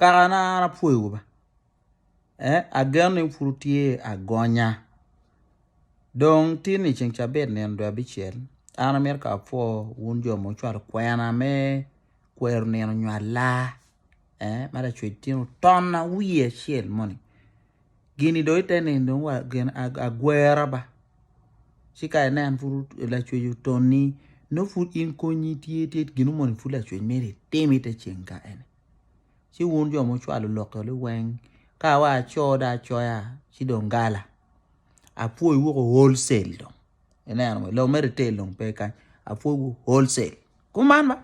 Kaka na an apwoyo wa ba eh ageno ni pud tye agonya dong tye ni ceng cabit nino dwe abicel an amito ka apwo wun jo ma wucwalo kwena me kwero nino nyo alar eh ma lacwec tye ni otona wiye acel moni. Gin-ni dong ite nino dong wa gin agwera ba, ci ka inen pud lacwec otonni, nongo pud in konyi tye tye gin mo ni pud lacwec myero itim ite ceng ka'e-ni. Ci wun jo mucwalo lokoli weng, ka wa aco dong acoya ci dong gala, apwoyi woko wholesale dong, ineno mo, dong me retail dong pe kany, apwoyi woko wholesale. Kuman ba,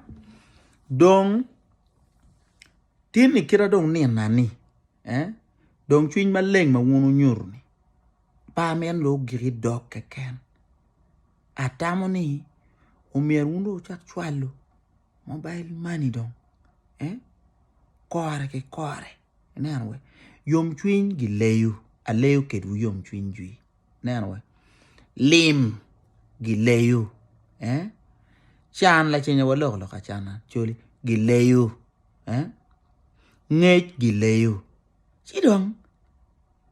dong. Tin ni kita dong nina ni eh dong cwiny maleng ma wun wunyuto ni par meno dong ogiki dok keken. Atamo ni omyero wun dong wucak cwalo mobile money dong eh kore ki kore ineno weh yom cwiny gi leyo aleyo kedwu yom cwiny jwi ineno weh lim gi leyo eh can lacenya wa lok lok acana coli gi leyo. eh ngec gileyo ci dong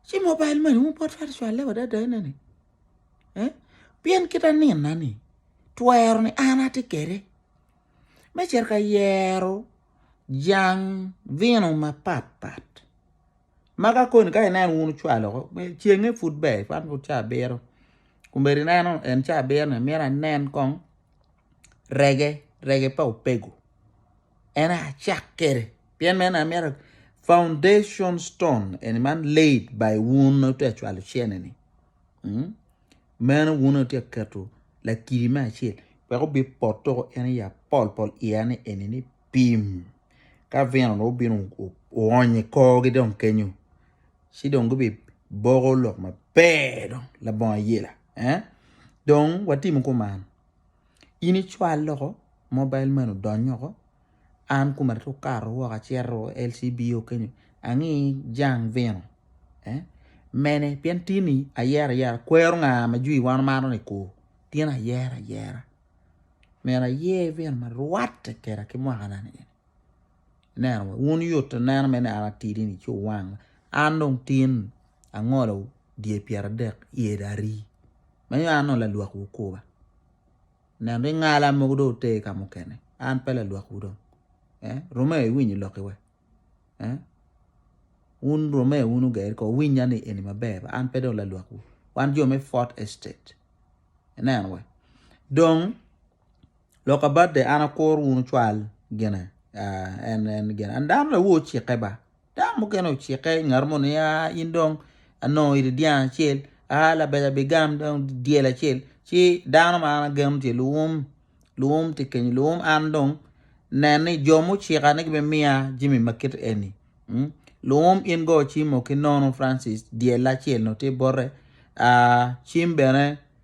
ci mobile money wu bot twero cwale wa dada ena ni eh pien kita nina ni twero ni an atye kede me cito ka yero jang vino mapat pat ma ka koni ka ineno wun wucwalo ko cenge pud ber cwalo caa abiro komedi ineno en caa abiro ni myero anen kong. rege rege pa opego en aye acak kwede pien meno aye amyero foundation stone eni man laid by wun ma wutye ka cwalo cene ni mm meno wun aye wutye ka keto lakiri me acel wek obin pote woko en aye apol pol iye ni eni ni pim ka vino dong obino oonyo i korgi dong kenyo ci dong gubi boko lok maber dong labongo ayela eh dong watimo kuman. In icwal loko mobile money odony oko an koma aryeko kato woko acito LCBO kenyo angi jang vino mene pien tye ni ayero ayera kwero nga ma jwi wan omaro ni ko tye ni ayero ayera myero ayer vino ma rwatte keda ki mwaka na ni. Ineno wek wun yot neno me neno atidi-ni ci wuwang. An dong tin angolo dye pyeradek yedi ari ma nongo an dong lalwak Wukuba. Ineno dong ingala mogo dong oter ka mukene. An pe lalwakwu dong. Eh? Rome iwinyo lokki we? Eh? Wun rome wun oger ko winya ni eni maber ba an pe dong lalwakwu. Wan jo me Fort Estate. Ineno we? Dong Lok abadde an akuru wun wucwal gine an dano aye ocikke ba dano mukene ocikke ngat mo ni in dong anongo iri dyang acel a labade abigam dong dyel acel ci dano ma an ageno tye lwum lwum tye kenyo lwum an dong nen ni jo mucika ni gibin miya jami ma kit eni lwum in go cimo ki nono Francis dyel acel nongo tye bote cim bene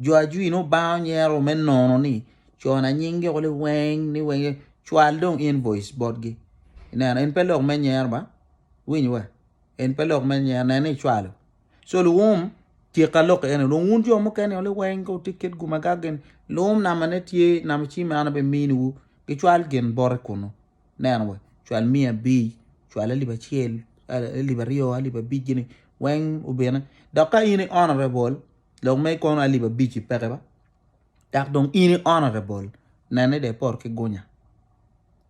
Jo ajwir nongo bang onyero me nono ni co na nying gi kule weng ni weng cwal dong invoice bot gi ineno en pe lok me nyero ba winyo wa en pe lok me nyero nene icwalo so luwum tyek ka lok ene dong wun jo mukene kule weng ko ti kit guma ka gen luwum nama ne tye nama ci me ana be mini wu gi cwal gen bote kunu neno wa cwal miya abic cwal alip acel alip aryo alip abic gini weng obine dok ka in i honorable lok ma ikono alip abic i peke ba dok dong in i honorable nene dong ipot ki gunya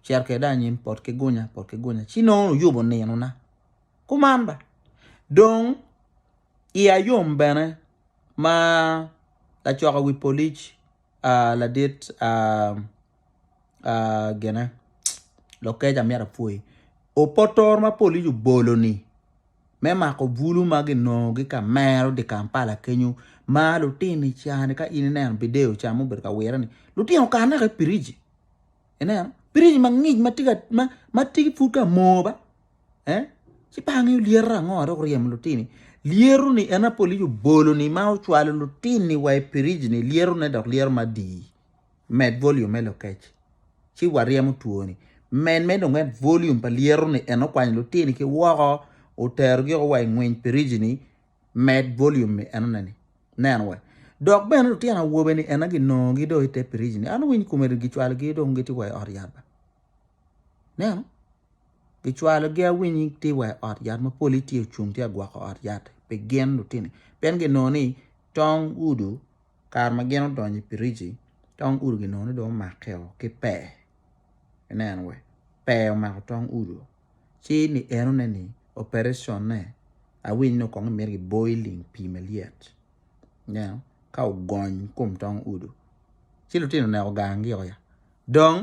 cito kwede anyim pot ki gunya pot ki gunya ci nongo oyubo ninona kuman ba dong iya yom bene ma lacoka wi polic ladit gine lokec amyero apwoyi opotoro ma police obolo ni me mako bulu ma ginongo gi ka mero di Kampala kenyo ma lutino i cani ka in ineno bideo ca ma obedo ka wire ni lutino okato naka i piriji ineno piriji mangic ma tye ka ma tye pud ka moo ba. Eh? Ci bangi olyero ango adok oryemo lutini? Lyero ni en apolic obolo ni ma ocwalo lutini wa i pirij ni lyero ne dok lyero ma dii. Med volume me lokec. Ci waryemo two ni. Men me dong en volume pa lyero ni en okwanyo lutini ki woko otero gi wa i ngweny pirij ni med volume ni en oneni. Nen wa. Dok bene lutino awobe ni en agi nongo gi do i te pirij ni. An winy kume gi cwalo gi dong giti wa i ot yat ba. Neno? Gicwalogi awiny gitye wa i ot yat ma polgi tye ocung tye ka gwoko ot yat pi gin lutini pien ginongo ni tong udo kare ma gin odonyo i piriji tong udo ginongo ni dong omakkeo ki pee ineno wa pee omako tong udo ci ni enone ni opereconne awiny ni kong gimito giboyo i ling pii malyet ineno ka ogony i kom tong udo ci lutino oneko gangi-o ya dong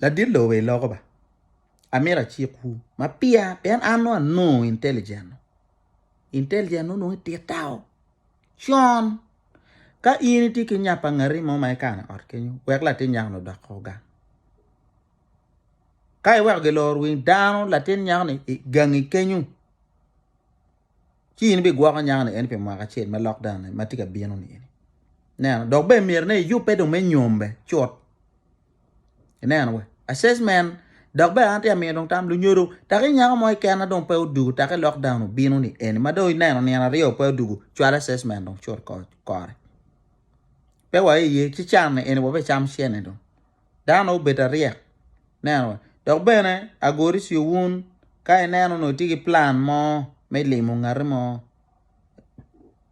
Ladit lobe iloko ba. Amito acik wu ma pia pien an nongo anongo intelligent. Intelligent onongo itit tao. Con. Ka in iti ki nyapa ngati mo ma ikane ot kenyo, wek latin nyako ni odok ko gang. Ka iweko giloro wing dano latin nyako ni gangi kenyo. ci in bigwoko nyakani eni pi mwaka acel ma lokdown-ni ma tye ka bino-ni. Ineno? Dok bene myero ni iyubbe dong me nyombe cut. Ineno wa? Assessment, dok bene an tye ka miyo dong tam, lunyodo, taki nyako mo keken ma dong pe odugo taki lokdown obino-ni eni, ma dong ineno nino aryo pe odugo, cwal assessment dong cut kore. Pe wa iye, ci can-ni eni wabicam cene dong. dano obed aryek neno wa dok bene agori ci wun ka ineno nongo itye ki plan mo me limo ngati mo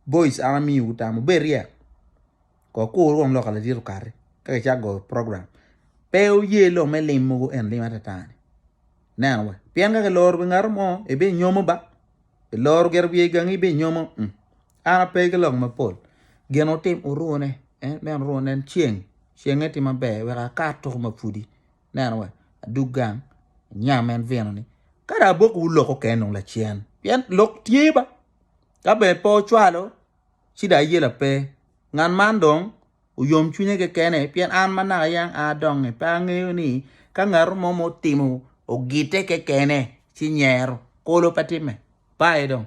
boys an amiyo wu tam wubed ryek kor kur wong loka ladit okati ka kicito goyo program pe wuye lok me lim mogo eni lim atata ni neno wa pien ka kiloro pi ngati mo ibinyomo ba. Iloro gire wiye i gangi bi nyomo, mm, an ape ki lok mapol. Gin otim orune, en bene orune, nen ceng, cenge tye maber, wek akar tuku ma pudi, neno wa, adug gang, anyam en vino ni, kadi abok wu lok okene nung lacen, pien lok tye ba, ka bene pe ocwalo, ci dong ayela pe. Ngat man dong oyom cwinye kekene pien an ma naka yam a adongnge pe angeyo ni ka ngat mo ma otimo ogitte kekene ci nyero kolo pe timme. Pa aye dong.